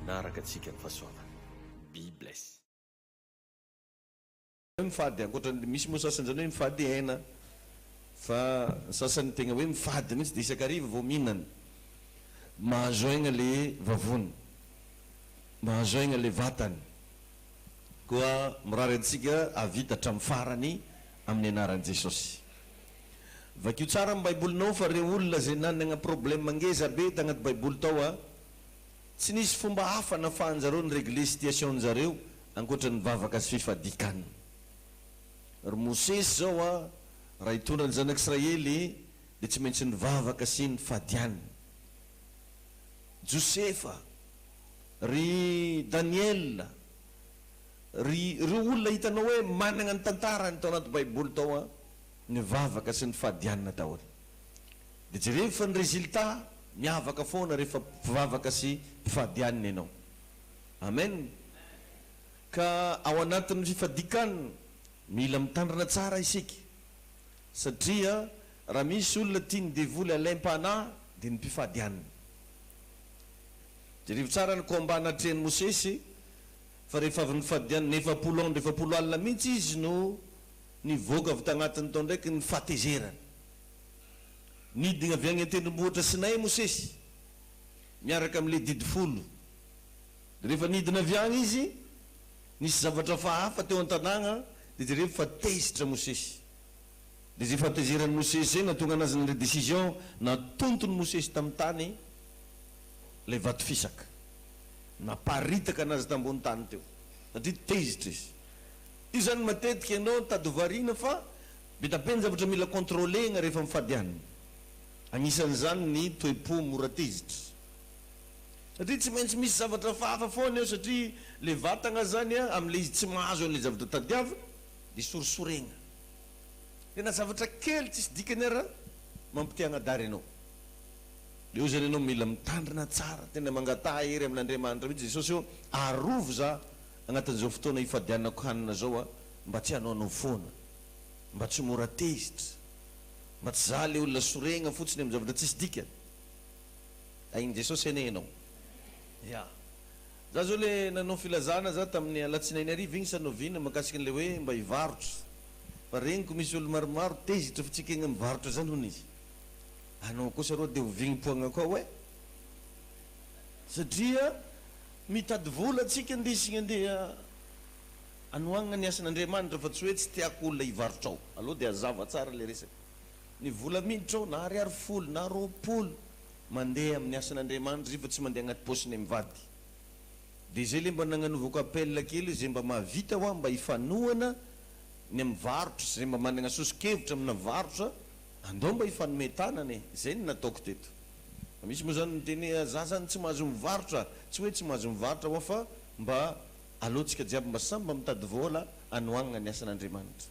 Manaraka antsika ny fahasoavany. Be bless. Mifady ankoatran'le misy moa sasany zany hoe mifady hena fa ny sasany tegna hoe mifady mihitsy de isak'ariva vao mihinana. Mahazo aigna le vavony. Mahazo aigna le vatany. Koa mirary antsika hahavita hatramin'ny farany amin'ny anaran'i Jesosy. Vakio tsara ny baibolinao fa reo olona zay nanagna problème ngeza be tagnaty baiboly tao a tsy nisy fomba hafa nafahanjareo ni regler situation njareo ankoatra ny vavaka sy fifadikan ry mosesy zao a raha hitondra ny zanak israely de tsy maintsy nivavaka sy nifadian josefa ry daniel ry reo olona hitanao hoe managna ny tantarany tao anaty baiboly tao a. nivavaka sy nifadianina daholo. Dia jereo fa ny résultat miavaka foana rehefa mpivavaka sy mpifadianina ianao. Amen. Ka ao anatin'ny fifadikan mila mitandrina tsara isika satria raha misy olona tian'ny devoly alaim-panahy dia ny mpifadianina. Jerevo tsara ny combat natrehan'i Mosesy fa rehefa avy nifadianina efapolo andro efapolo alina mihitsy izy no Nivoaka avy tagnatin' tao ndraiky ny fahatezerany. Nidina avy agny an-tendrombohitra Sinay i Mosesy, miaraka amy le Didy Folo. Dia rehefa nidina avy agny izy, nisy zavatra fahafa teo an-tanàgna, dia jerevo fa tezitra Mosesy. Dia zay fahatezeran'i Mosesy zay nahatonga anazy nandray décision, natontony Mosesy tamy tany lay vato fisaka. Naparitaka anazy tambony tany teo, satria tezitra izy. Izany matetika ianao no tady hovariana fa be da be ny zavatra mila contrôler-na rehefa mifady an'ny. Anisan'izany ny toe-po mora tezitra. Satria tsy maintsy misy zavatra hafahafa foana eo satria ilay vatagna izany an, amin'ilay izy tsy mahazo an'ilay zavatra tadiaviny dia sorisoregna. Dia na zavatra kely tsisy dikany ara mampitia hanadary anao. Dia eo izany ianao mila mitandrina tsara, tena mangataha hery amin'Andriamanitra mihitsy Jesosy hoe arovy za Agnatin'izao fotoana ifadianako hanina izao aho mba tsy hanaonao foana, mba tsy ho mora tezitra, mba tsy izaho ilay olona sorehina fotsiny amin'ny zavatra tsisy dikany. Ahin'i Jesosy anie ianao. Ya. Izaho izao ilay nanao filazana izaho tamin'ny alatsinainy hariva iny sa novina mahakasika an'ilay hoe mba hivarotra. Fa reniko misy olona maromaro tezitra fa tsy ekegna mivarotra izany hono izy. Anao kosa rô dia hovignim-poagnako ao e! Satria Mitady vola tsika nde isika handeha hanohagna ny asan'Andriamanitra fa tsy hoe tsy tiako olona hivarotra ao. Aleo dia hazava tsara ilay resaka. Ny vola miditra ao na ariary folo na roapolo mandeha amin'ny asan'Andriamanitra izay fa tsy mandeha agnaty paosinay mivady. Dia izay ilay mba nagnanovako appel kely hoe izay mba mahavita hoa mba hifanohana ny amin'ny varotra sy izay mba managna soso-kevitra amina varotra andao mba hifanome tanana e. Izay no nataoko teto. Misy moa zany miteny hoe a za zany tsy mahazo mivarotra, tsy hoe tsy mahazo mivarotra wa fa mba aleo tsika jiaby mba samy mba mitady vola anoagnana ny asan'Andriamanitra.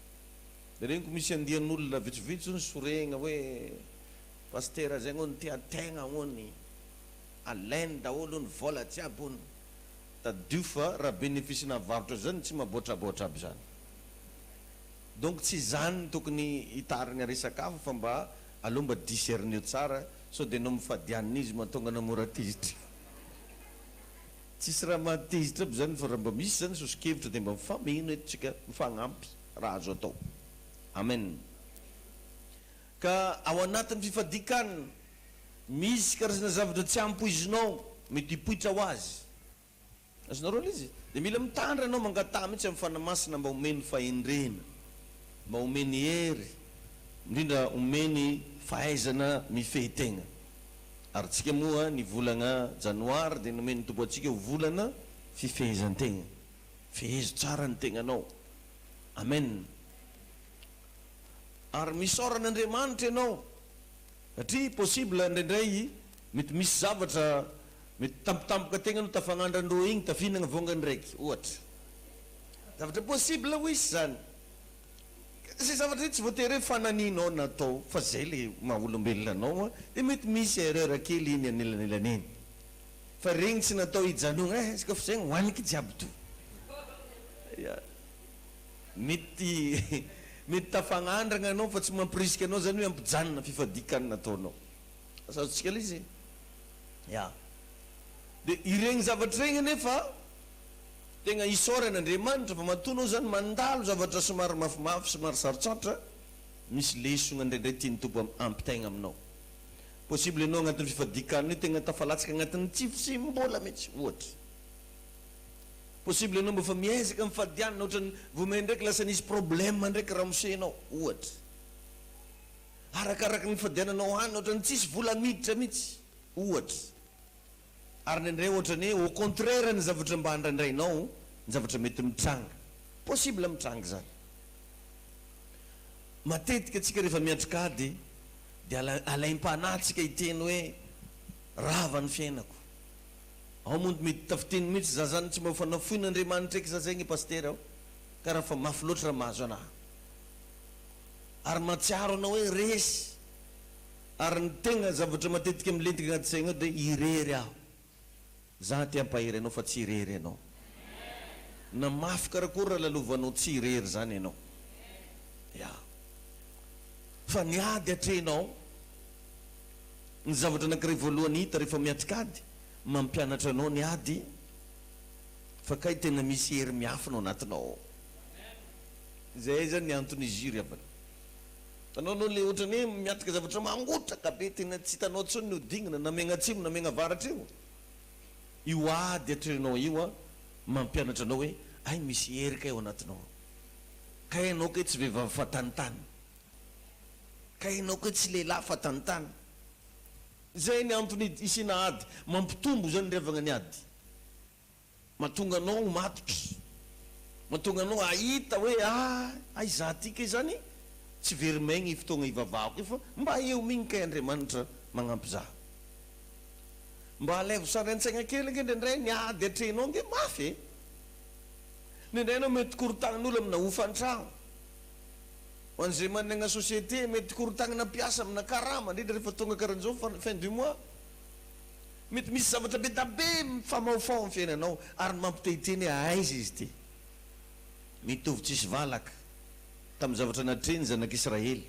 Reniko misy andian'olona vitsivitsy zao soregna hoe Pasitera zegny ony tia tegna ony, alainy daholo ony vola jiaby ony. Tadidio fa raha bénéfice navarotra zany tsy maboatraboatra aby zany. Donc tsy zany tokony hitarigna resaka hafa fa mba Aleo mba discerneo tsara sao de enao mifadianina izy mahatonga anao mora tezitra. Tsisy raha mahatezitra aby zany fa raha mba misy zany soso-kevitra de mba mifameno eto tsika mifagnampy raha azo atao. Amen. Ka ao anatin'ny fifadikan misy karazana zavatra tsy ampoizinao mety hipoitra ho azy. Azonareo aloha izy dia mila mitandra ianao mangataha mihitsy amin'ny Fanahy Masina mba homeny fahendrena, mba homeny hery, indrindra homeny fahaizana mifehy tegna. Ary tsika moa ny volagna janoary dia nomen'ny Tompo antsika ho volana fifehezan-tegna. Fehezo tsara ny tegnanao. Amen. Ary misaora an'Andriamanitra ianao satria possible indraindray Mety misy zavatra mety tampotampoka tegna no tafagnandra ndrô igny tafihinagna vôngany raiky ohatra. Zavatra possible ho hisy zany. Ze zavatra io tsy voatery hoe fananinao na atao fa zay le maha olombelona anao an de mety misy erreur kely igny anelanelany igny. Fa regny tsy natao hijanogna eh izy koa fa zegny hoaniky jiaby to. Ya. Mety mety tafagnandragna anao fa tsy mampirisika anao zany hoe ampijanona fifadian-kanina ataonao. Azontsika ilay izy e. Ya. Dia ireny zavatra ireny anefa tegna isaorana Andriamanitra fa matoa anao zany mandalo zavatra somary mafimafy, somary sarotsarotra, misy lesona indraindray tian'ny Tompo hampitaigna aminao. Possible ianao agnatin'ny fifadian-kanina io tegna tafalatsaka agnatin'ny tsy fisim-bola mihitsy, ohatra. Possible ianao mbô efa miezaka mifadianana ohatran'ny vao maindraiky lasa nisy problème ndraiky ramose-nao, ohatra. Arakaraka ny nifandehananao any ohatrany tsisy vola miditra mitsy ohatra ary indraindray ohatrany hoe au contraire ny zavatra mba andraindrainao ny zavatra mety mitranga possible mitranga izany matetika tsika rehefa miatrika ady dia alaim-panahy tsika hiteny hoe rava ny fiainako ao moa mety tafiteny mitsy za zany tsy mba ho fanafoin' Andriamanitra eky za zay nge pasitera ao ka raha fa mafy loatra raha mahazo anaha ary mahatsiaro anao hoe resy ary ny tegna zavatra matetika milentika agnaty saigna ao dia irery aho za te hampahery anao fa tsy irery ianao na mafy karakory raha lalovanao tsy irery zany ianao ya fa ny ady atrehinao ny zavatra anakiray voalohany hita rehefa miatrika ady mampianatra anao ny ady fa kay tegna misy hery miafina ao anatinao ao. Zay zany ny anton'izy io ry havana. Itanao anao le otrany hoe miatrika zavatra mangotraka be tena tsy itanao tsony ny hodingana na megna atsimo na megna avaratra io. Io ady atrehinao io an mampianatra anao hoe hay misy hery kay ao anatinao ao. Kay enao kay tsy vehivavy fa tantany. Kay enao kay tsy lehilahy fa tantany. Zay ny antony isiana ady. Mampitombo zany ry havagna ny ady. Mahatonga anao ho matotra. Mahatonga anao hahita hoe ah hay za ty kay zany tsy very maigny i fotoagna ivavahako io fa mba eo migny kay Andriamanitra magnampy za. Mba alaivo sary an-tsaigna kely ange ndraindray ny ady atrehinao ange mafy e. Ndraindray anao mety korontanin'olo amina hofan-tragno. Ho an'izay managna société mety korontagnina mpiasa amina karama indrindra rehefa tonga karahan'izao fin du mois. Mety misy zavatra be da be mifamahofaho amin'ny fiainanao ary ny mampitehiteny hoe aiza izy ity. Mitovy tsisy valaka tamin'ny zavatra natrehin'ny zanak'Israely.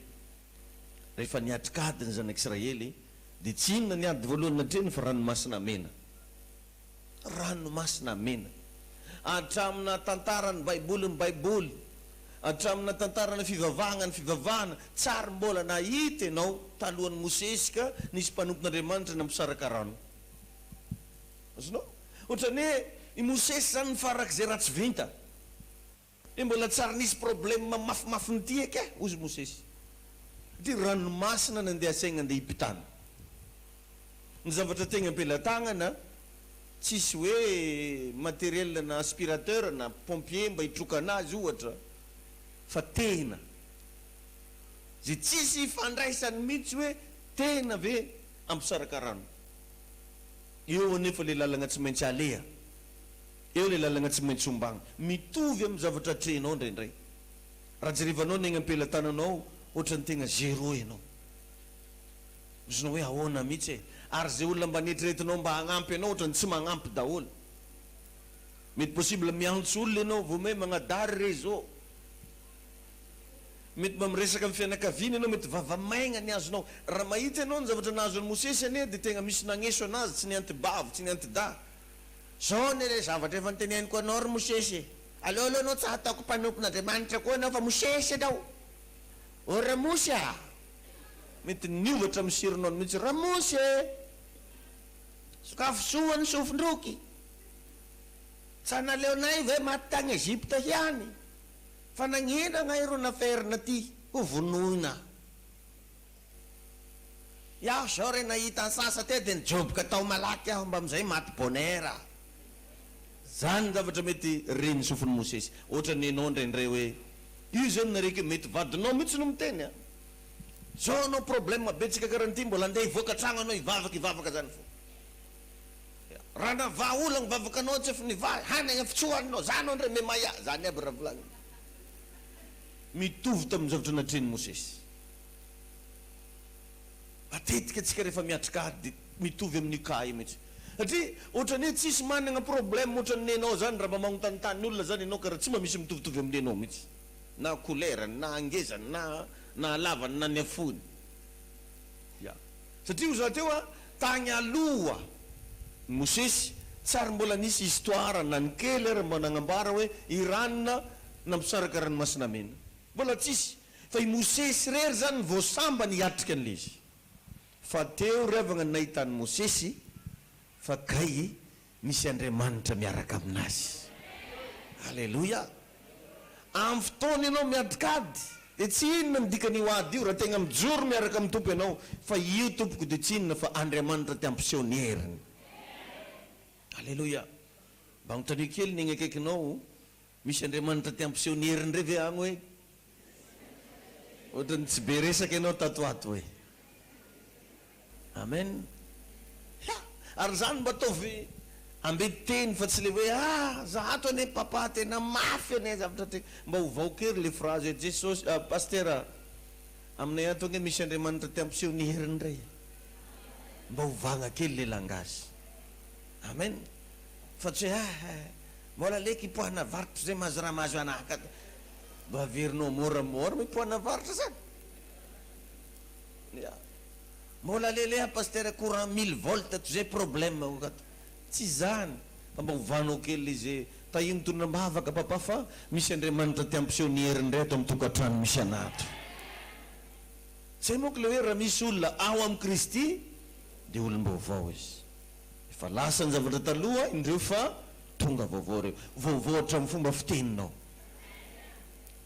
Rehefa niatrik'ady ny zanak'Israely dia tsy inona ny ady voalohany natrehiny fa Ranomasina Mena. Ranomasina Mena. Hatramina tantara ny Baiboly ny Baiboly, hatramina tantara ny fivavahana ny fivavahana, tsy ary mbola nahita ianao talohan'i Mosesy ka nisy mpanompon'Andriamanitra nampisaraka rano. Azonao? Ohatran'ny hoe i Mosesy izany nifarak'izay ratsy vinta. Dia mbola tsy ary nisy problème mafimafy n'ity eke ozy Mosesy. Ity ranomasina nandeha asaigna andeha hipitana. Ny zavatra tegna am-pelatagnana, tsisy hoe matériel na aspirateur na pompier mba hitroka anazy ohatra fa tena zay tsisy ifandraisany mintsy hoe tena ve hampisaraka rano eo anefa le lalagna tsy maintsy aleha. Eo ilay lalagna tsy maintsy ombagna. Mitovy amin'ny zavatra atrehinao indraindray. Raha jerevanao ny egny am-pelatananao ao, ohatran'ny tegna zéro ianao. Mizona hoe ahoana mihitsy e? Ary izay olona mba neritreretinao mba hagnampy anao ohatran'ny tsy magnampy daholo. Mety possible miantso olona ianao vao may magnadary re izao. Mety mba miresaka amin'ny fianakaviana ianao, mety vava maigna ny azonao. Raha mahita ianao ny zavatra nahazo an'i Mosesy anie dia tegna misy nagneso anazy, tsy ny anti-bavy, tsy ny anti-dahy. Zao anie ilay zavatra efa noteneniko anao ry Mosesy e! Aleo aloha anao tsy hataoko mpanompon'Andriamanitra koa ianao fa Mosesy ianao! O Ramosy a! Mety niova hatramin'ny surnom-ny mihitsy, Ramosy e! Sokafy soa ny sofin-droky! Tsa naleonay ve maty tany Egypta ihany? Fa nagnina angahy ro naferina aty ho vonoina? Iaho zao re nahita ansasa teo de nijoboka tao malaky aho mbamizay maty bonera. Zany ny zavatra mety re ny sofiny Mosesy. Ohatra ny enao ndray ndray oe io zao ny nareko io mety vadinao mitsy no miteny a. Zao anao probleme betsaka kara an'ity mbola ndeha hivoaka tragno anao hivavaka hivavaka zany fo. Raha navaha ola ny vavakanao tsy efa nivaha hanagny efa tsy hoaninao za anao ndray memaia. Zany aby raha volagniny. Mitovy tamin'ny zavatra natrehin'i Mosesy. Matetika tsika rehefa miatrika ady dia mitovy amin'io cas io mihitsy. Satria ohatrany hoe tsisy managna problème ohatrany nenao zany raha mba magnotanitany olona zany enao ka raha tsy mba misy mitovitovy amin'ny nenao mihitsy. Na couleur-ny, na hangezany, na na halavany, na nihafohiny. Ya. Satria hoy za teo a, tagny aloha ny Mosesy tsy ary mbola nisy histoire na ny kely ary mba nagnambara hoe Irana nampisaraka ranomasina mena. Mbola tsisy, fa i Mosesy irery zany no vao sambany hiatrika an'ilay izy. Fa teo ry havana ny nahitan'i Mosesy fa kay misy Andriamanitra miaraka aminazy. Aleloia! Amin'ny fotoana ianao miatrika ady dia tsy inona ny dikan'io ady io raha tegna mijoro miaraka amin'ny Tompo ianao fa io tompoko dia tsy inona fa Andriamanitra te hampiseho ny heriny. Aleloia! Mba anotaniako kely ny egny akaikinao Misy Andriamanitra te hampiseho ny heriny re ve agny hoe? Ohatran'ny tsy be resaka ianao tato ho ato hoe? Amen. Ya! Ary izany mba ataovy ambin-teny fa tsy le hoe a! za ato anie Papa tena mafy anie zavatra te. Mba ovaoka ery le frazy hoe Jesosy a! Pastera a! Aminay ato ange misy Andriamanitra te hampiseho ny heriny re. Mba ovagna kely le langage. Amen. Fa tsy hoe a! Mbola leko i poa navarotra zay mazrama azo anaka da mba averinao mora mora moa i poa navarotra zany ya mbola leleha pasitera courant mille volt ato zay problème ko ato tsy zany fa mba ovanao kely le ze tahiny tondra ambavaka papa fa misy Andriamanitra te hampiseho ny heriny ndray ato am tokatrano misy ana ato zay manko le hoe raha misy olona ao am Kristy de olom-baovao izy. Efa lasa ny zavatra taloha indreo fa tonga vaovao ireo. Vaovao hatramin'ny fomba fiteninao.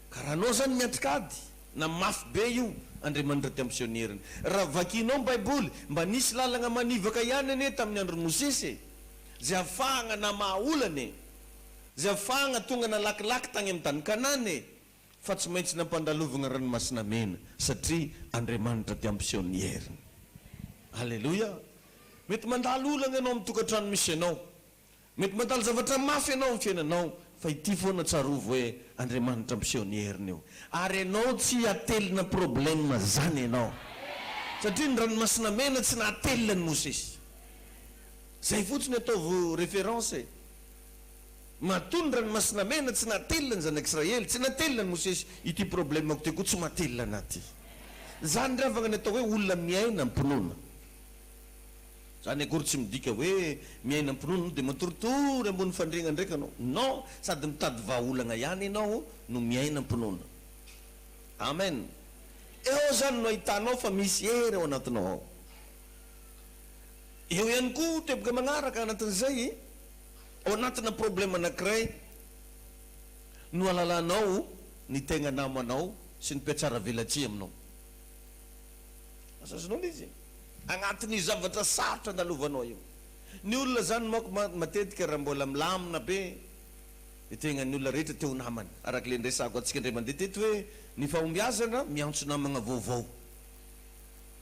Ka raha anao izany miatrika ady na mafy be io Andriamanitra tia misionieriny. Raha vakianao ny Baiboly, mba nisy lalagna manivaka ihany anie tamin'ny andron'i Mosesy e. Izay afahagna namaha olana e. Izay afahagna tonga nalakilaky tagny amin'ny tany Kanana e. Fa tsy maintsy nampandalovina ranomasina mena satria Andriamanitra dia miseho ny heriny. Aleloia! Mety mandalo olana ianao amin'ny tokantrano misy anao. Mety mandalo zavatra mafy ianao amin'ny fiainanao. Fa ity foana tsarovy hoe Andriamanitra miseho ny heriny io. Ary ianao tsy atelina problème zany ianao. Satria ny ranomasina mena tsy nahatelina an'i Mosesy. Zay fotsiny ataovy référence e. Matoa ny ranomasina mena tsy nahatelina ny zanak' Israely, tsy nahatelina an'i Mosesy, ity problemako ity koa tsy mahatelina anah ity. Izany re havagna ny atao hoe olona miaina am-pinoana. Izany akory tsy midika hoe miaina am-pinoana anao dia matoritory ambony fandriagna ndraika anao. Non, sady mitady vahaolagna ihany ianao no miaina am-pinoana. Amen. Eo izany no ahitanao fa misy hery ao anatinao ao. Eo ihany koa teboka magnaraka anatin'izay. Ao anatina problème anakiray no alalanao ny tegna namanao sy ny mpiatsara velatsihy aminao. Azazinao izy agnatin'io zavatra sarotra andalovanao io. Ny olona zany manko matetika raha mbola milamina be ny tegnan'ny olona rehetra te ho namany. Araka le niresahako antsika indray mandeha teto hoe ny fahombiazana miantso namagna vaovao.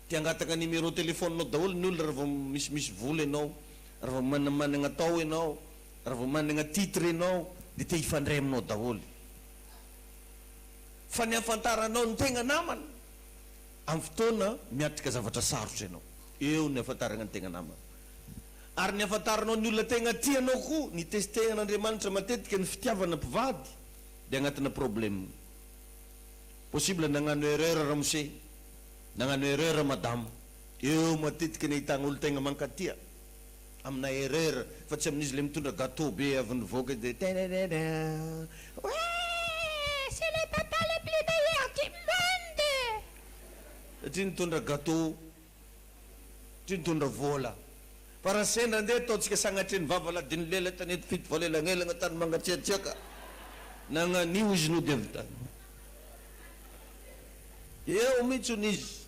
Te hangataka numéro téléphone-nao daholo ny olona raha vao misimisy vola enao. Raha vao manamanana tao ianao, raha vao manana titre ianao dia te hifandray aminao daholo. Fa ny hahafantaranao ny tegna namana, amin'ny fotoana miatrika zavatra sarotra ianao, eo ny hahafantarana ny tegna namana. Ary ny hahafantaranao ny olona tegna tia anao koa, ny testehan'Andriamanitra matetika ny fitiavana mpivady dia agnatina problème. Possible nagnano erreur ramose, nagnano erreur madama. Eo matetika ny ahitana olon-tegna mankatia amina erreur fa tsy amin'izy le mitondra gateau be avy nivoaka de tererera Wee c'est le papa le plus meilleur du monde satria nitondra gateau satria nitondra vola fa raha sendra ndeha ataontsika sagnatria nivavaladino lela tany eto fito valo elagnelagna tany mangatsiatsiaka nagnan'io izy no de avy tany eo mitsy hono izy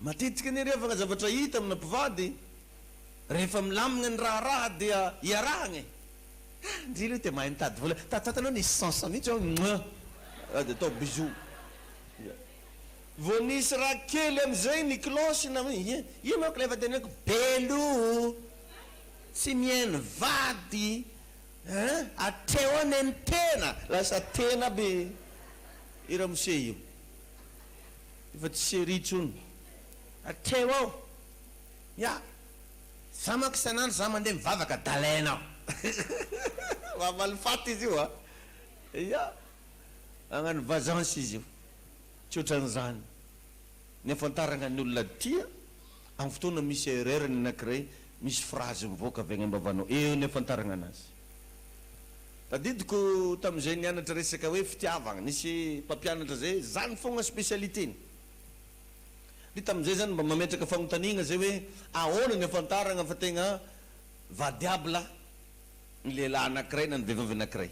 Matetika anie rehefa ka zavatra hita amina mpivady rehefa milamina ny raharaha dia iarahagna e! Ha! ndry leha te mahay mitady vola, tataty anao nisy sens mihitsy aho mua! ah dia atao bisous ya! vao nisy raha kely amizay ny cloche na hoe ye! io manko ilay efa teneniko be loha tsy mihaino vady eh! atreo anie ny tena lasa tena aby i ramose io. Efa tsy serie intsony. Hatreo ao. Ya. Za manko isan'andro za mandeha mivavaka d'Alain aho. Mamaly faty izy io a. Ya. Magnano vazance izy io. Tsy otran'izany. Ny afantaragna ny olona tia, amin'ny fotoana misy erreur ny anakiray, misy phrase mivoaka avy agny am-bavanao. Eo ny afantaragna anazy. Tadidiko tamin'izay nianatra resaka hoe fitiavagna, nisy mpampianatra zay, zany fogna spécialité-ny. De tamin'izay zany mba mametraka fagnotaniagna zay hoe ahoana ny afantaragna fa tegna vadiabla ny lehilahy anakiray na ny vehivavy anakiray.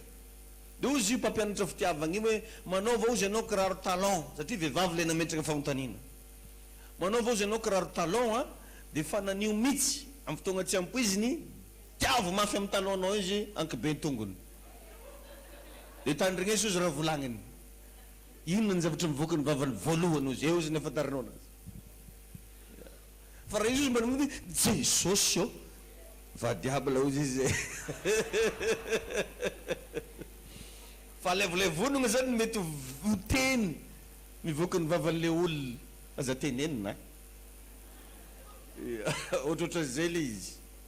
De ozy io mpampianatra fitiavagna io hoe manaova ozy anao kiraro talon, satria vehivavy le nametraka fagnotaniana. Manaova ozy anao kiraro talon a, de fananio mitsy am fotoagna tsy ampoiziny, Tiavo mafy am tananao izy ankiben tongony de tandrigneso izy raha volagniny inona ny zavatra mivoaka ny vavany voalohany ozy eo izy nefa taranona azy fa raha izy ozy mba nody jesosy ô va diable ozy izy e fa le vole vonogna zany mety ho teny mivoaka ny vavan le olona aza tenenina a ia ohatrohatran zay le izy.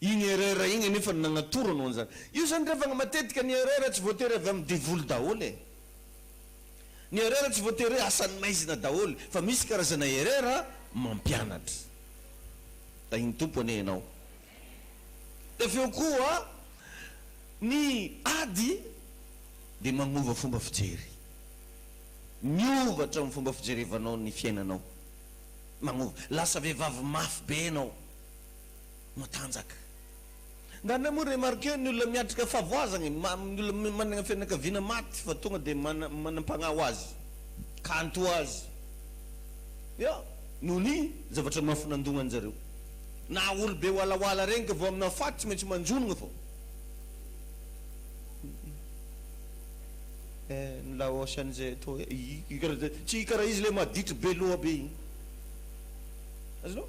Iny erreur iny anefa no nagnatoro anao an'izany. Io zany rehefa matetika ny erreur tsy voatery avy amin'ny devoly daholo e. Ny erreur tsy voatery hoe asan'ny maizina daholo fa misy karazana erreur mampianatra. Tahin'ny Tompo anie ianao. Dia avy eo koa ny ady dia magnova fomba fijery. Miova hatramin'ny fomba fijerevanao ny fiainanao. Magnova. Lasa vehivavy mafy be ianao. matanjaka. Ngany moa remarquer ny olona miatrika favoazana e, ma, ny olona manana fianakaviana maty fa tonga dia mana, manampagnahy ho azy, kanto ho azy. Ya, noho ny zavatra mafy nandohan zareo. Na olo be walawala regny ka vao amina faty tsy maintsy manjonogna fô. Eh, ny laos anizay atao eh, i, i, i karaha zay, tsy i karaha izy le maditry be loha be igny. Azonao?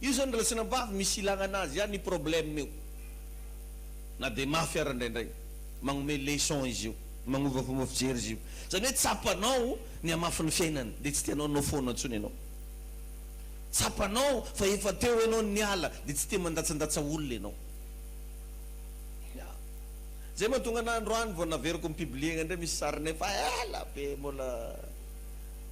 Io zany raha tsy nampavy misy ilagna anazy ihany io problème io na dia mafy ara indraindray magnome leçon izy io magnova fomba fijery izy io zany hoe tsapanao ny hamafy ny fiainany dia tsy tianao no foana intsony ianao tsapanao fa efa teo ianao niala dia tsy tia mandatsandatsa olona ianao ya zay mahatonga anah androany vao naveriko ni publier indray misy sarinay fa ela be mbola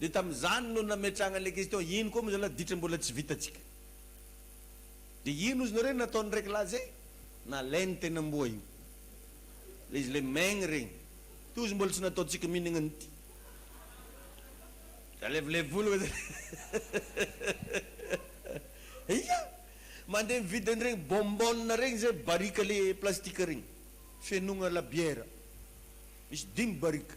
Dia tamin'izany no nametrahana ilay question, iny koa moa izany adiditra mbola tsy vitantsika. Dia iny ozy nareo nataon'ny reglage zay, nalainy teny amboa io. Ilay izy ilay maigny regny. Ity ozy mbola tsy nataontsika mihinagna an'ity. Za levolevoly oe Ia! Mandeha mividy an'iregny bonbonne regny zay, barika le plastika regny, fenoagna labiera. Misy dimy barika.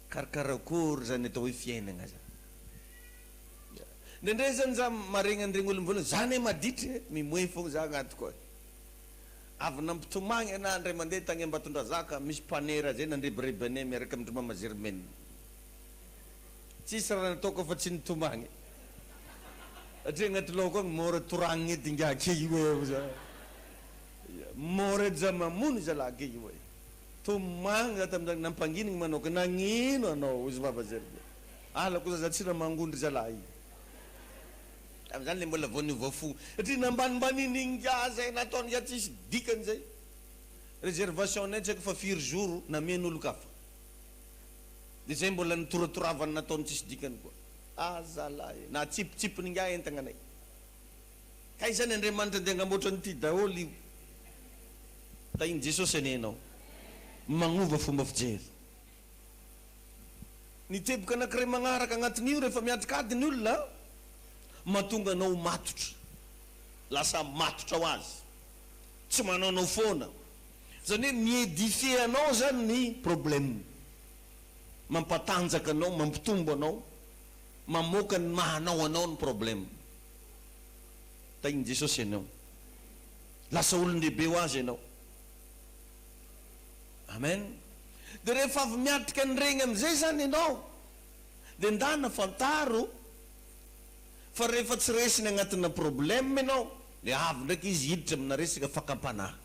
Kar karakory zany atao hoe fiainagna zany ya. Ndraindray zany za maregny an'iregny olo mivolagna za ne maditry e, mimoe fogna za agnatiko agny. Avy nampitomagny ana ndray mande tagny Ambatondrazaka misy mpanera zay nandrebireby ane miaraka amin-dry Mama Germaine. Tsisy raha nataoko afa tsy nitomagny satria agnaty lohako agny mora toragny edy ingahy key hoe hoy za. Ya mora edy za mamono zalahy key hoe. Tomany za tam zany nampanginigny manao ka nagnino anao ozy vava zay ry zalahy alako za za tsy namango ndry zalahy tam zany le mbola vao niova fo satria nambanimbanin'ingahy zay nataon'ingahy tsisy dikany zay reservation nay tsy haiko fa firy jour namen'olon-kafa de zay mbola nitoratoravany nataony tsisy dikany koa ah zalahy e natsipitsipin'ingahy entagnanay. Ka izany Andriamanitra dia hangamboatra an'ity daholo io. Tahin'i Jesosy anie ianao. Magnova fomba fijery. Ny teboka anankiray magnaraka agnatin'io rehefa miatrika ady ny olona, mahatonga anao ho matotra. Lasa matotra ho azy. Tsy manaonao foana. Izany hoe mi-edifier anao izany ny problème. Mampatanjaka anao, mampitombo anao, mamoaka ny maha anao anao ny problème. Tahin'i Jesosy ianao. Lasa olon-dehibe ho Azy ianao. Amen. Dia rehefa avy miatrika an'ireny amin'izay izany ianao, dia ndana fantaro fa rehefa tsy resiny agnatina problème ianao, dia avy ndraiky Izy hiditra amina resaka fakam-panahy.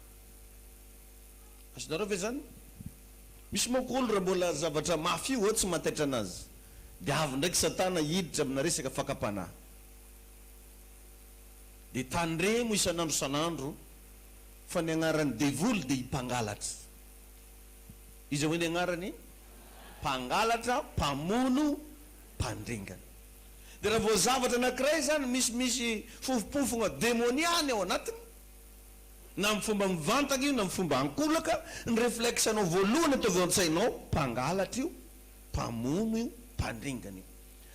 Azonareo ve izany? Misy manko olo raha mbola zavatra mafy io tsy mahataitra anazy, dia avy ndraiky Satana hiditra amina resaka fakam-panahy. Dia tandremo isan'andro isan'andro fa ny agnaran'ny devoly dia i Mpangalatra. Iza hoy ny agnarany? Mpangalatra, mpamono, mpandringana. Dia raha vao zavatra anankiray izany misy misy fofompofogna demoniany ao anatiny, na amin'ny fomba mivantagna io na amin'ny fomba ankolaka, ny reflexe-nao voalohany ataovy ao an-tsainao, mpangalatra io, mpamono io, mpandringana io.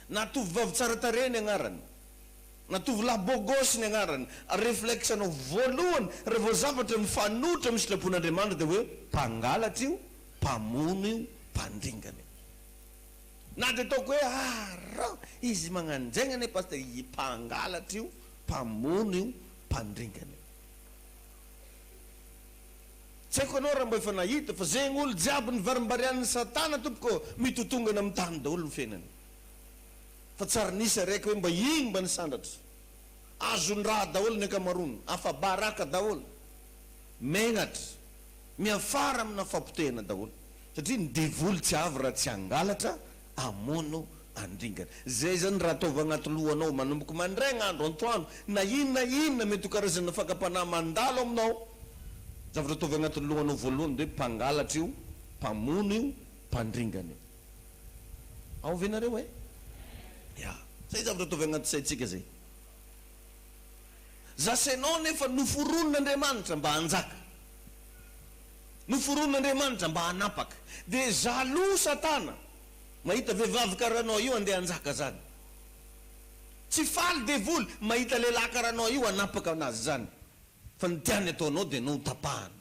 Na tovovavy tsara tarehy ny agnarany, na tovolahy beau gosse ny agnarany, reflexe anao voalohany raha vao zavatra mifanohitra amin'ny sitrapon'Andriamanitra dia hoe mpangalatra io, mpamono io, mpandringana io. Na dia ataoko hoe arrr izy magnan'izegny anie Pasteur, i mpangalatra io, mpamono io, mpandringana io. Tsy haiko anao raha mba efa nahita fa zegny olo jiaby nivarimbarian'ny satana tompoko mitotongana amin'ny tany daholo ny fiainany fa tsy ary nisy araiky hoe mba igny mba nisandratra azon-draha daholo ny ankamaroany afa-baraka daholo megnatra miafara amina fahapotehana daholo satria ny devoly tsy avy raha tsy hangalatra hamono andringana. Zay zany raha ataovy agnaty lohanao manomboka mandraigna andro antoandro na inona na inona mety ho karazana fakam-panahy mandalo aminao, zavatra ataovy agnatin'ny lohanao voalohany de hoe mpangalatra io, mpamono io, mpandringana io. Ao ve nareo e? Ya. Zay zavatra ataovy agnaty saintsika zay. Zase nao nefa noforonin'Andriamanitra mba hanjaka. Noforonin'Andriamanitra mba hanapaka. Dia jaloux satana mahita vehivavy karaha anao io andeha hanjaka zany. Tsy faly devoly mahita lehilahy karaha anao io hanapaka anazy zany. Fa ny tiany ataonao dia anao ho tapahana.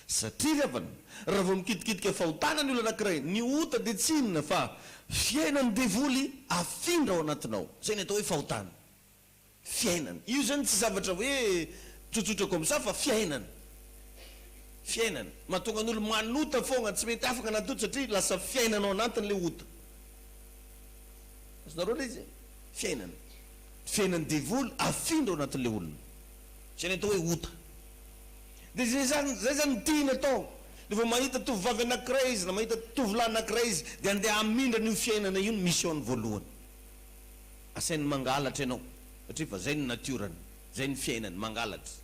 Satria ry havana, raha vao mikitikitika fahotana ny olona anankiray, ny ota dia tsy inona fa fiainan'ny devoly afindra ao anatinao. Zay ny atao hoe fahotana. fiainana. Io zany tsy zavatra hoe tsotsotra comme ça fa fiainana. Fiainana. Mahatonga ny olo manota fogna, tsy mety afaka anaty ota satria lasa fiainana ao anatiny le ota. Azonareo le izy e? Fiainana. Fiainan'ny devoly afindra ao anatin'le olona. Zay le atao hoe ota. De zay zany, zay zany no tiany atao. De vao mahita tovovavy anakiray izy na mahita tovolahy anakiray izy de andeha hamindra an'io fiainana io ny mission-ny voalohany. Asainy mangalatra ianao satria fa zay ny natiorany, zay ny fiainany, mangalatra.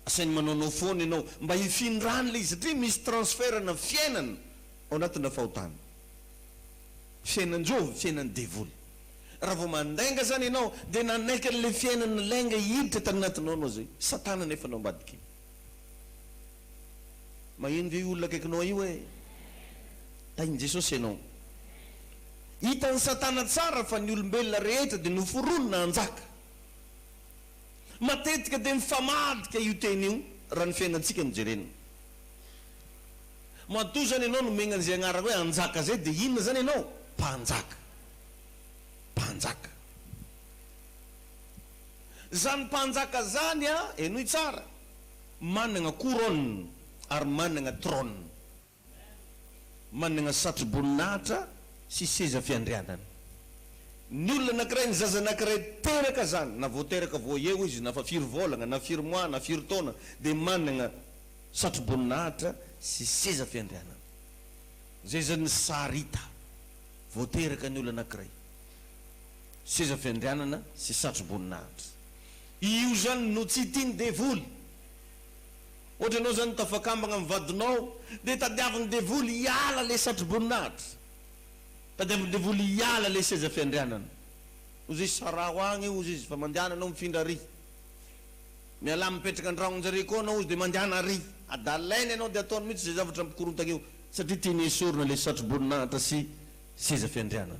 Asainy manaonao foana ianao mba hifindrany le izy satria misy transfert-na fiainana ao anatina fahotana. Fiainan-jovy, fiainan'ny devoly. Raha vao mandainga zany ianao dia nanaiky an'le fiainana lainga hiditra tany anatinao ianao zay. Satana anefa no ambadik'iny. Maheno ve io olona akaikinao io hoe tahin'i Jesosy ianao? Hitan'i Satana tsara fa ny olombelona rehetra dia noforonina hanjaka. Matetika dia mifamadika io teny io raha ny fiainantsika no jerena. Matoa izany ianao nomegna an'izay agnaraka hoe hanjaka izay dia inona izany ianao? Mpanjaka. Mpanjaka. Izany mpanjaka izany an, henoy tsara. Manana couronne ary manana trône. Manana satroboninahitra sy seza fiandrianana. Ny olona anankiray, ny zaza anankiray teraka zany, na vao teraka vao eo izy, na fa firy volagna, na firy mois, na firy taona, dia manana satroboninahitra sy seza fiandrianana. Zay zany ny sary hita vao teraka ny olona anankiray. Seza fiandrianana sy satroboninahitra. Io zany no tsy tian'ny devoly. Ohatra ianao zany tafakambana amin'ny vadinao dia tadiavin'ny devoly hiala ilay satroboninahitra. Tadiavin'ny devoly hiala ilay seza fiandrianana. Ozy izy saraho agny ozy izy fa mandehana anao mifindra ary. Mialà mipetraka an-dranon-jareo koa anao ozy dia mandehana ary. Adalainy anao dia ataony mihitsy izay zavatra mikorontana eo satria tiany hesorina ilay satroboninahitra sy seza fiandrianana.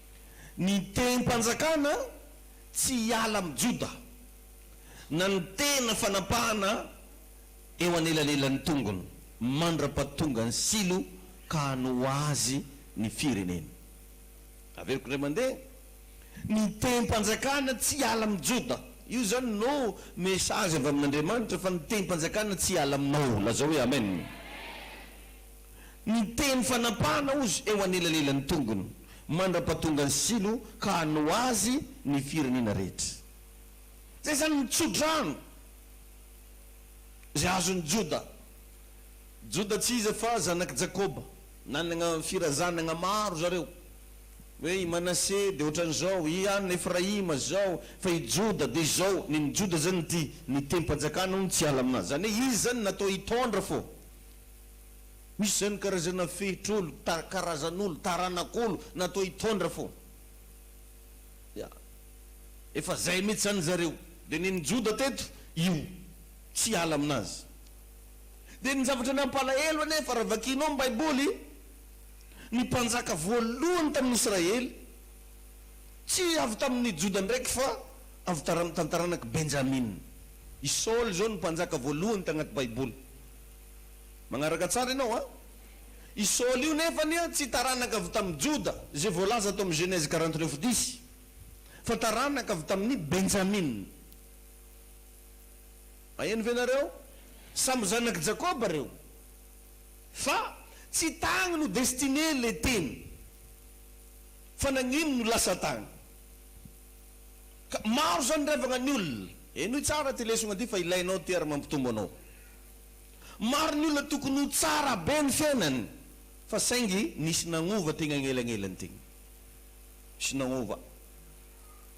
Ny tehim-panjakana tsy hiala amin'i Joda, na ny tehina fanapahana eo anelanelan'ny tongony, mandra-pahatonga an'i Silo ka hanoa azy ny firenena. Averiko indray mandeha, Ny tehim-panjakana tsy hiala amin'i Joda. Io izany no message avy amin'Andriamanitra fa ny tehim-panjakana tsy hiala aminao. Lazao hoe Amen. Miteny fanapahana ozy eo anelanelan'ny tongony mandra-pahatonga ny silo ka hanoa azy ny firenena rehetra. Izay izany ny tso-drano izay azon'i Joda. Joda tsy iza fa zanak'i Jakoba. Nanana firazanana maro zareo. Hoe i Manase dia ohatran'izao, i an'i Efraima izao, fa i Joda dia izao. Nen'i Joda izany ity, ny tehim-panjakana hono tsy hiala aminazy. Izany hoe izy izany natao hitondra fô Misy zany karazana fehitr'olo, karazan'olo, taranak'olo natao hitondra fô. Ya. Efa zay mitsy zany zareo. De nen'i Joda teto io. Tsy hiala aminazy. De ny zavatra nampalahelo anefa raha vakianao ny baiboly, ny mpanjaka voalohany tamin'ny Israely, tsy avy tamin'ny Joda ndraiky fa avy taranak'i Benjamina. I Saoly zao no mpanjaka voalohany tagnaty baiboly. Magnaraka tsara ianao a! I Saoly io nefany tsy taranaka avy tamin'i Joda, izay voalaza ato amin'ny Genèse quarante neuf dix, fa taranaka avy tamin'i Benjamina. Maheno ve nareo? Samy zanak'i Jakoba reo, fa tsy tagny no destiné le teny, fa nagnino no lasa tagny? Ka maro zany revagna ny olona. Henoy tsara ty lesogna ty fa ilainao ty ary mampitombo anao. Maro ny olona tokony ho tsara be ny fiainany fa saingy nisy nagnova tegna agnelagnelany tegna. Nisy nagnova.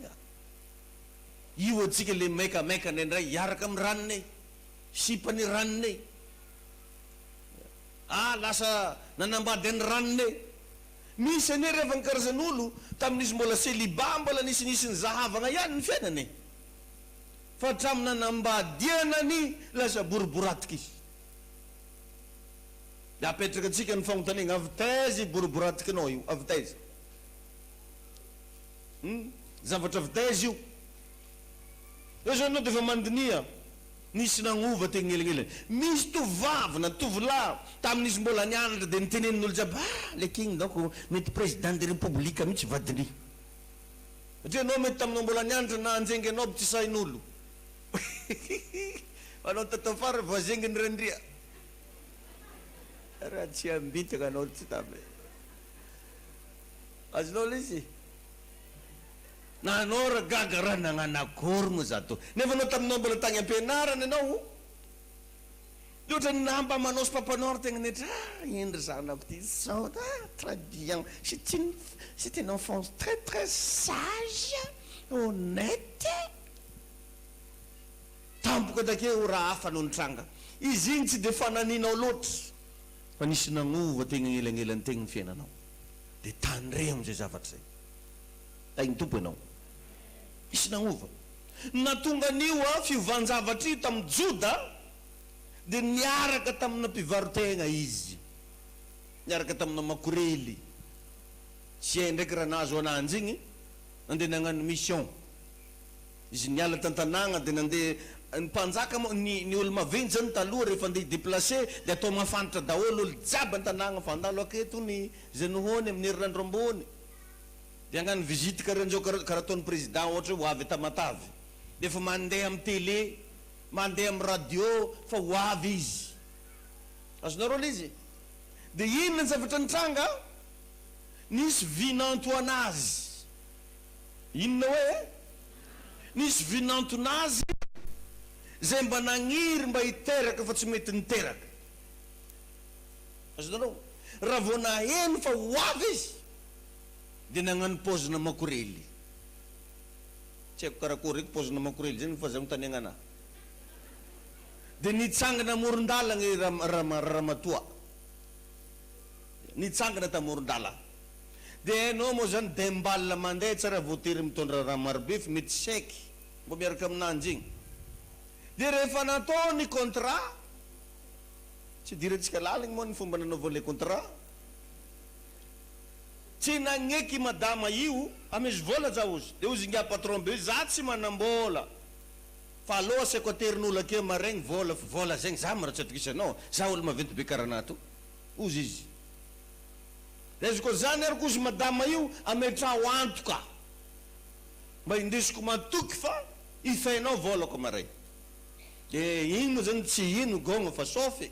Ya. Io antsika le maikamaika ndraindray hiaraka amin'ny ranonay, sipan'ny ranonay. Ya. Ah lasa nanambady an'ny ranonay. Misy anie rehefa ny karazan'olo tamin'izy mbola celibat mbola nisinisy ny zahavagna ihany ny fiainany e. Fa hatramin'ny nanambadiana ny lasa boriboratika izy. Dia apetraka antsika ny fanontaniana, avy taiza io boriboratikinao io? Avy taiza? Hum? Zavatra avy taiza io? Eo izao ianao dia efa mandiniha, nisy nagnova teny anelanelany. Misy tovovavy na tovolahy tamin'izy mbola nianatra dia nitenenin'olo jiaby, ah, ilay king donc mety président de république mihitsy vadiny. Ndry enao mety taminao mbola nianatra nahanjenge anao btsy sahin'olo fa anao tato afara voazengy ny randria raha tsy ambitaka anao tsy tamy azonao lesy na anao ra gaga ra nagnano akory moa za to nefa anao taminao mbola tagny ampianarana enao Mihoatra ny lamba manao Papa Noir tegna netra ah indry zanako ty zao ah très bien c'est une c'est une enfance très très sage honnête tampoka take ora hafa no nitranga izy igny tsy de fananinao loatra fa nisy nagnova tegna agnelagnelany tegna ny fiainanao de tandremo zay zavatra zay tahin'ny Tompo enao nisy nagnova natonga an'io ah fiovan-javatra io tamin'i Joda dia niaraka tamina mpivaro-tegna izy, niaraka tamina makorely. Zay ndraiky raha nahazo ananjy igny, nandeha nagnano mission. Izy niala tan-tanàgna dia nandeha, ny mpanjaka moa, ny ny olo maventy zany taloha rehefa andeha hi-deplacer dia atao mahafantatra daholo olo jiaby an-tanàgna fa handalo aketo ony zay nohony amin'ny herinandro ambony, dia hagnano visite karaha njao karaha karaha ataon'ny président ohatra hoe ho avy Tamatave dia efa mandeha amin'ny télé Mandeha amin'ny radio fa ho avy izy. Azonareo ilay izy? Dia inona ny zavatra nitranga? Nisy vy nantoana azy. Inona hoe? Nisy vy nantona azy izay mba nagniry mba hiteraka fa tsy mety niteraka. Azonareo? Raha vao naheno fa ho avy izy dia nagnano paozina makorely. Tsy haiko karakory reko paozina makorely zay no fa zay manontania anah. Dia nitsangana amoron-dalagna i Ramatoa. Nitsangana tao amoron-dalagna. Dia hainao moa zany dembal mandeha tsy raha voatery mitondra rano marobe fa mety sec mba miaraka aminanjy igny. Dia rehefa natao ny contrat, tsy idirantsika laliny moa ny fomba nanaovany le contrat. Tsy nagneky i madama io fa misy vola za ozy de ozy ingahy patron be za tsy manambola fa aleo asiako aterin'olo akeo maregny vola fa vola zegny za ma ra tsy atokisanao za olo maventy be kara anah to ozy izy de izy ko zany ary kozy madama io ametraho antoka mba indesiko matoky fa ifehinao volako maregny de igny mo zany tsy ino gogna fa sofy.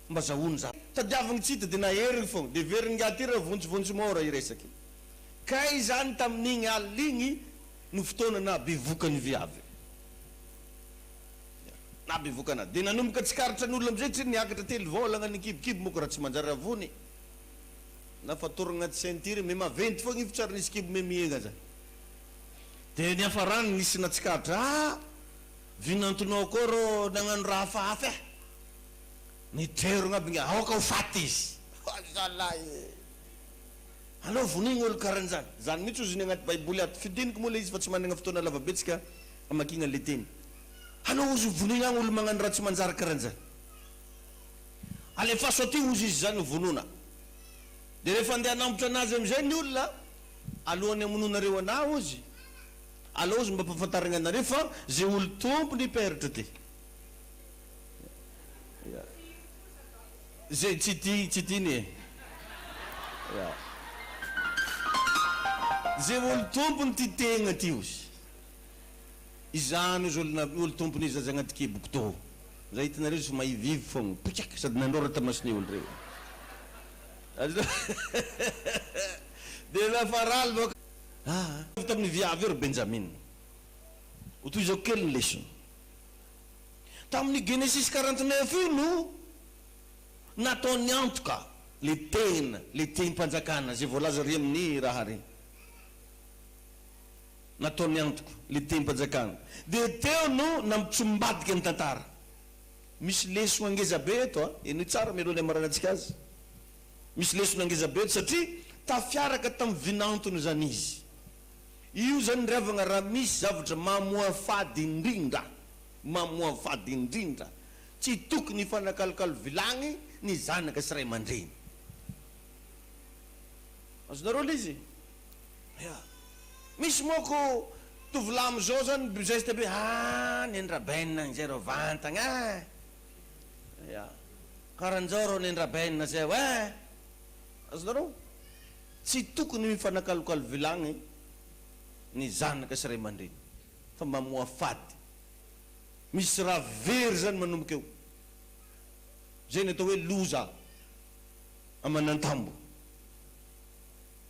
Mba zahono zany. Tadiaviny tsy hita de naheriny fogna. De very ingahy ty ra vontsivontsy môra i resaka io. Kay izany tamin'igny alina igny no fotoana naha bevoka ny viavy. Ya. Naha bevoka anazy. De nanomboka tsikaritra ny olona amizay tsy niakatra telo vôlagna ny kibokibo moko ra tsy manjary ravony e. Na fatoragna agnaty ceinture me maventy fogna io fa tsy ary nisy kibo me mihegna zany. De niafarany nisy natsikaritra, ah! vinantonao koa rô nagnano ra hafahafa eh! Ny jerogna aby nga aoka ho faty izy. Oay zalahy e! Aleo vonoigna olo karanjany. Zany mihitsy ozy ny agnaty baiboly ato. Fidiniko moa le izy fa tsy managna fotoana lava be tsika hamakiagna le teny. Aleo ozy ho vonoigna agny olo magnano raha tsy manjary karanjany. Alefaso aty ozy izy zany ho vonona. De refa andeha hanambotra anazy amizay ny olona alohany hamonoanareo ana ozy. Aleo ozy mba ampafantarigna anareo fa ze olo tompony peratra ty. Zay tsy tia tsy tiany e. Zay olo tompony tia tegna ty ozy. Izany ozy olo olo tompony izy aza agnaty kiboko tô. Zay itanareo izy fa mahivivo fôgna poikiaka sady nandôrata masony olo reo. De lafa raly bôka aa. Avy taminy viavy eo ry Benjamina. Ho tohizako kely ny lesona. Tamin'io Genesis quarante neuf io no nataony antoka le tena le tehim-panjakana zay voalaza re amin'ny raha re. Nataony antoka le tehim-panjakana de teo no nampitsombadika ny tantara. Misy lesona ngeza be eto a! Henoy tsara mialoha ny hamarainantsika azy. Misy lesona ngeza be eto satria tafiaraka tamin'ny vinantony zany izy. Io zany ry havagna raha misy zavatra mamoafady indrindra, mamoafady indrindra, tsy tokony hifanakalokalo vilagny ny zanaka sy ray aman-dreny. Azonareo le izy? Ya. Misy moko tovolahy amizao zany bgeste be, aah nendra ben zay reo vantagna eh. Ya. Karanjao reo nendra ben zay oeh. Azonareo? Tsy tokony mifanakalokalo vilagny ny zanaka sy ray aman-dreny fa mamoha fady. Misy raha very zany manomboka eo. Zay ny atao hoe loza aman'antambo.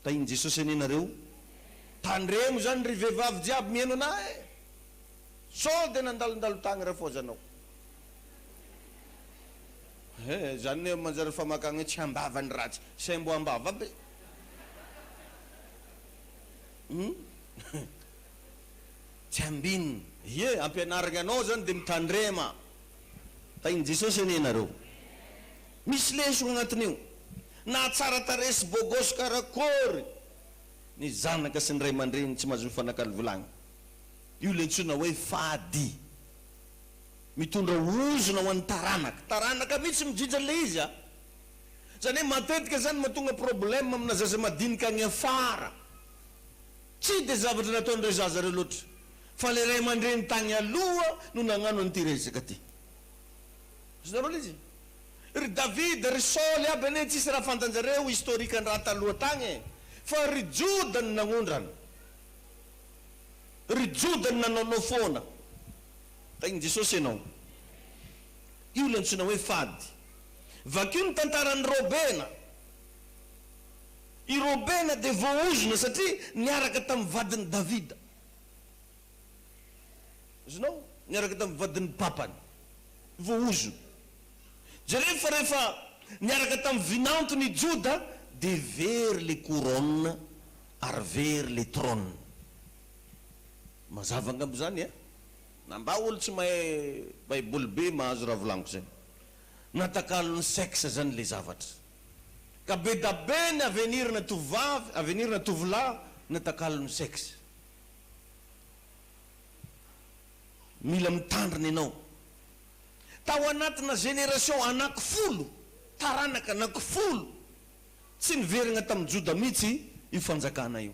Tahin'i Jesosy anie nareo. Tandremo zany ry vehivavy jiaby mihaino anah eh. Sao de nandalondalo tagny rafoazanao. He zany ne manjary famakagna hoe tsy ambava ny ratsy say mbo ambava aby hum tsy ambin. Ie ampianarigny anao zany de mitandrema. Tahin'i Jesosy anie nareo. Misy lesona agnatin'io. Na tsara tarehy sy beau gosse karakory ny zanaka sy ny ray aman-dreny tsy mahazo mifanakalo vilagny. Io le antsoina hoe fady. Mitondra ozona ho an'ny taranaka. Taranaka mihitsy midrindra an'ilay izy a! Izany hoe matetika izany mahatonga problème amina zaza madinika any afara. Tsy dia zavatra nataon'ireo zaza ireo loatra, fa ilay ray aman-dreny tany aloha no nagnano an'ity resaka ity. Azonareo ilay izy? Ry Davida, ry Saoly aby anie tsisy raha fantanjareo historique an-draha taloha tagny e! Fa ry Joda no nagnondrana. Ry Joda no nanaonao foana. Tahin'i Jesosy ianao. Io ilay antsoina hoe fady. Vakio ny tantaran'i Robena. I Robena dia voaozona satria niaraka tamin'ny vadin'i Davida. Azonao? Niaraka tamin'ny vadin'ny papany. Voaozona. Jereo fa rehefa niaraka tamin'ny vinantony i Joda dia very ilay couronne ary very ilay trône. Mazava angamba izany eh! Na mba olo tsy mahay baiboly be mahazo raha volaniko zay. Natakalon'ny sexe zany le zavatra. Ka be da be ny avenir na tovovavy, avenir na tovolahy natakalon'ny sexe. Mila mitandrina enao. Tao anatina generation anaky folo, taranaka anaky folo, tsy niverigna tamin'i Joda mitsy io fanjakana io.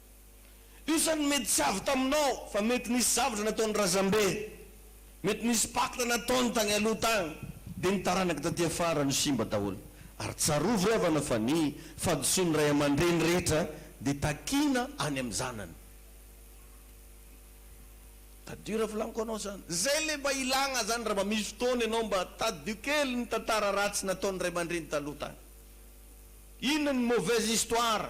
Io sa ny mety tsy avy taminao fa mety nisy zavatra nataon'ny razambeny, mety nisy pacte nataony tany aloha tany dia ny taranaka taty afara no simba daholo. Ary tsarovy ry havana fa ny fahadisoan'ny ray aman-dreny rehetra dia takiana any amin'ny zanany. Tadidio ravilaniko anao zany. Zay le mba ilagna zany ra mba misy fotoana ianao mba tadidio kely ny tantara ratsy nataon'ny ray aman-dreny taloha tany. Inona ny mauvaise histoire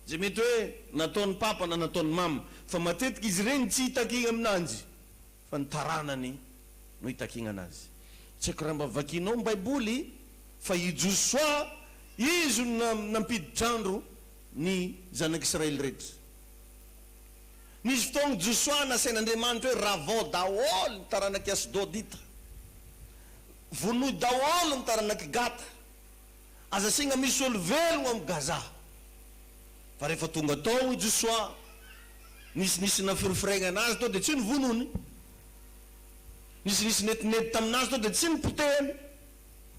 Izay mety hoe nataon'i Papa na nataon'i Mama, fa matetika izy ireny tsy itakigna aminanjy fa ny taranany no itakigna anazy. Tsy haiko raha mba vakianao ny baiboly fa i Josoa izy no nampiditr-andro ny zanak'Israely rehetra. Nisy fotoagna Josoa nasain'Andriamanitra hoe ravao daholo ny taranak'i Asdodita, vonoy daholo ny taranak'i Gata, Aza asiagna misy olo velogno am Gaza. Fa rehefa tonga tao i Josoa, nisy nisy nafirifiregna anazy tao dia tsy nivonony. Nisy nisy nedinedy taminazy tao dia tsy nipotehany.